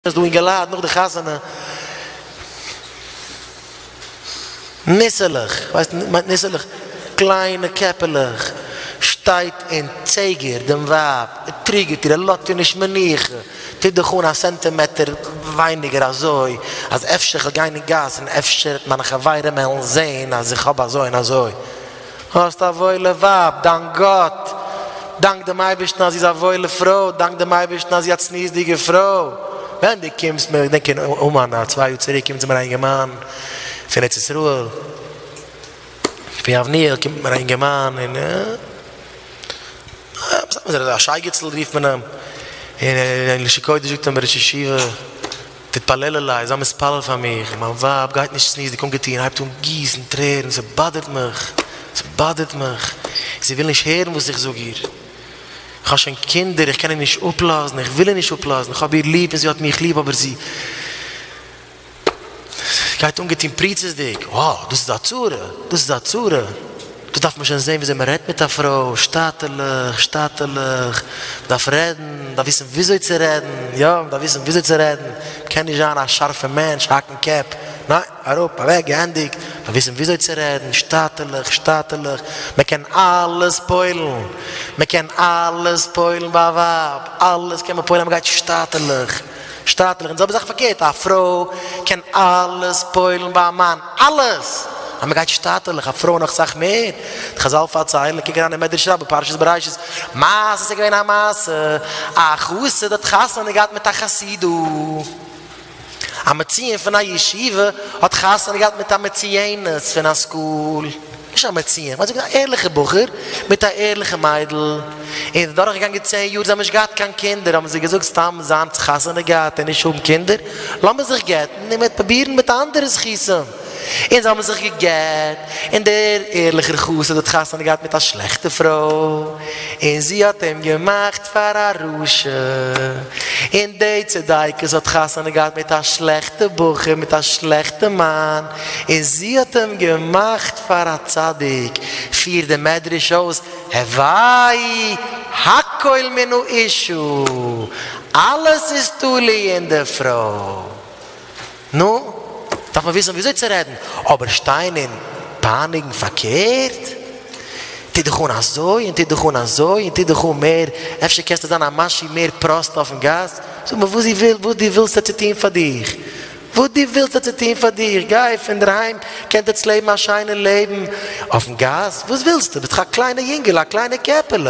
איז דא אינגעלייט נאך די חתונה ניסעלעך, כ'ווייס נישט, מיינט ניסעלעך קליינע קעפעלעך, שטייט און צעגערט דעם ווייב, טריגערט איר, לאזט איר נישט מנוחה, טוט דיך אן א סענטימעטער ווייניגער אזוי, אז אפשר כ'וועל גיין אין גאס און אפשר וועט מיינע חברים העלן זעהן אז איך האב אזוי און אזוי. האסט א וואוילע ווייב, דאנק גאט, דאנק דעם אייבערשטן אז זי איז א וואוילע פרוי, דאנק דעם אייבערשטן אז זי איז א צניעות'דיגע פרוי, ווען דו קומסט מיר, כ'דענק אין אומאן א צוויי יאר צוריק קומט צו מיר א אינגערמאן פון ארץ ישראל, פון יבניאל קומט מיר א אינגערמאן און סתם אזוי, א שייגעצל רופט מען אים, און אין לשון קודש זאגט אים דער ראש ישיבה. תתפללו לי, זיי מתפלל פאר מיך, מיין ווייב גייט נישט סנוזיג אנגעטון, הייבט אן גיסן טרערן, זי באדערט מיך, זי באדערט מיך, זי וויל נישט הערן וואס איך זאג איר, איך האב שוין קינדער, איך קען איר נישט אפלאזן, איך וויל איר נישט אפלאזן, איך האב איר ליב און זי האט מיך ליב, אבער זי גייט אנגעטון פריצות'דיג, וואו, דאס איז א צרה, דאס איז א צרה. דאס דארף מען שוין זען וויאזוי מען רעדט מיט א פרוי, שטאטערליך, שטאטערליך, מען דארף רעדן, מען דארף וויסן וויאזוי צו רעדן, יא, מען דארף וויסן וויאזוי צו רעדן, מען קען נישט זיין א שארפע מענטש, האקן קעפ, ניין, אראפ, אוועק, געענדיגט, מען דארף וויסן וויאזוי צו רעדן, שטאטערליך, שטאטערליך, מען קען אלעס פועל'ן, מען קען אלעס פועל'ן ביי א ווייב, אלעס קען מען פועל'ן אז מען גייט שטאטערליך. שטייטלעך, און די זעלבע זאך פארקערט, א פרוי קען אלעס פועל'ן ביי א מאן, אלעס! אז מען גייט שטייטלעך, א פרוי נאך סאך מער, די חזל פארציילן, קוק אריין אין מדרש רבה פרשת בראשית, מעשה, ס'איז געווען א מעשה, א חסיד האט חתונה געהאט מיט א חסידא, א מציון פון א ישיבה האט חתונה געהאט מיט א מצויינת פון א סקול, נישט א מציאה, מען האט זיך געזעהן א ערליכע בחור מיט א ערליכע מיידל, און איז דורך געגאנגען צען יאר זיי האבן נישט געהאט קיין קינדער, האבן זיי געזאגט סתם זיינס חתונה געהאט און נישט האבן קינדער, לאמיר זיך גט'ן און מען וועט פרובירן מיט אנדערע זכותים, און זיי האבן זיך געגט, און דער ערליכער חסיד האט חתונה געהאט מיט א שלעכטע פרוי, און זי האט אים געמאכט פאר א רשע, און די צדיקת האט חתונה געהאט מיט א שלעכטע בחור מיט א שלעכטע מאן, און זי האט אים געמאכט פאר א צדיק, פירט די מדרש אויס, הוואי הכל מן האישה, אלעס איז תלוי אין די פרוי. נו, דארף מען וויסן וויאזוי צו רעדן, אבער שטיין און פייניגן פארקערט? טו דיך אן אזוי און טו דיך אן אזוי און טו דיך אן מער, אפשר קענסטו זיין א משהו מער פראסט אויפן גאס? זאג מיר וואס זי וויל, וואס דו ווילסט ער צו טון פאר דיך? וואס דו ווילסט ער צו טון פאר דיר? גיי פון דער היים, קענט עטס לעבן א שיינע לעבן אויפן גאס? וואס ווילסטו? ביסט דאך א קליינע יונגעל, א קליינע קעפעלע.